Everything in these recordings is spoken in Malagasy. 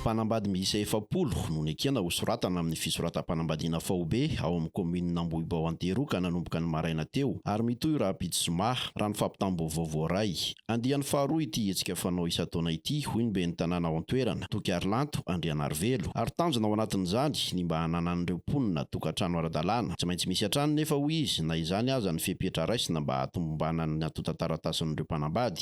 Mpanambady miisa efapolo no nekena ho soratana amin'ny fisoratam-panambadiana faobe ao amin'ny kaominina Ambohibao Anteroka nanomboka ny maraina teo ary mitohy rahampitso zoma, raha ny fampitam-baovao voaray. Andiany faharoa ity hetsika fanao isan-taona ity, hoy ny ben'ny tanàna ao an-toerana, Toky Harilanto Andrianarivelo, ary tanjona ao anatin'izany ny mba hananan'ireo mponina tokantrano ara-dalàna. Tsy maintsy misy hatrany nefa, hoy izy, na izany aza ny fepetra raisina mba hahatomombanan'ny antontan-taratasin'ireo mpanambady.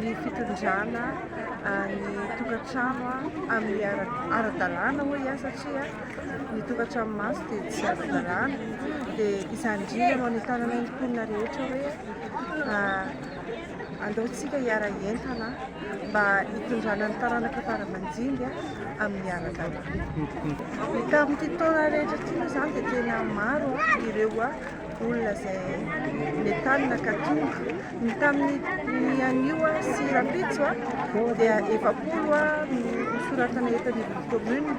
ny fitondrana ny tokantrano amin'ny ara-dalàna hoy aho satria ny tokantranomaso dia tsy ara-dalàna dia izany indrindra no anentanana ny mponina rehetra hoe aleontsika hiara-hientana mba hitondrana ny taranaka fara-manjinga amin'ny ara-dalàna. Tamin'ity taona rehetra ity moa izany dia tena maro ireo olona izay nentanina ka tonga. Ny tamin'ny anio sy rahampitso dia efapolo no soratana eto anivon'ny commune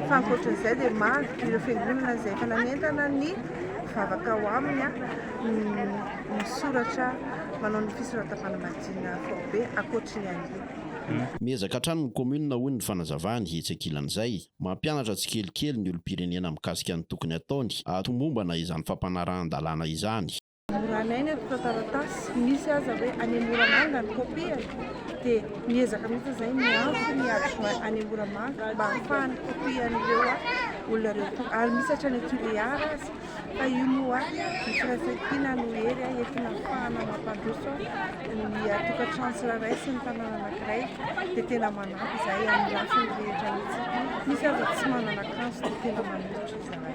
fa ankoatran'izay dia maro ireo fiangonana izay efa nanentana ny mpivavaka ao aminy misoratra manao ny fisoratam-panambadiana faobe ankoatry ny anio. Miezaka hatrany ny commune hoy ny fanazavany etsy ankilan'izay. Mampianatra tsikelikely ny olom-pirenena mikasika ny tokony ataony hahatomombana izany fampanarahan-dalàna izany. Moranay ny atoka taratasy, misy aza hoe any Moramanga ny kopiany dia miezaka mihitsy izahay miantso ny adjoint any Moramanga mba hahafahany kopian'ireo olona ireo ary misy hatrany Tulear aza. Fa io moa ny firaisankina no hery entina hahafahana mampandroso ny tokantrano tsirairay sy ny tanàna anankiray dia tena manampy izahay amin'ny lafiny rehetra mihitsy. Misy aza tsy manana akanjo dia tena manolotra izahay.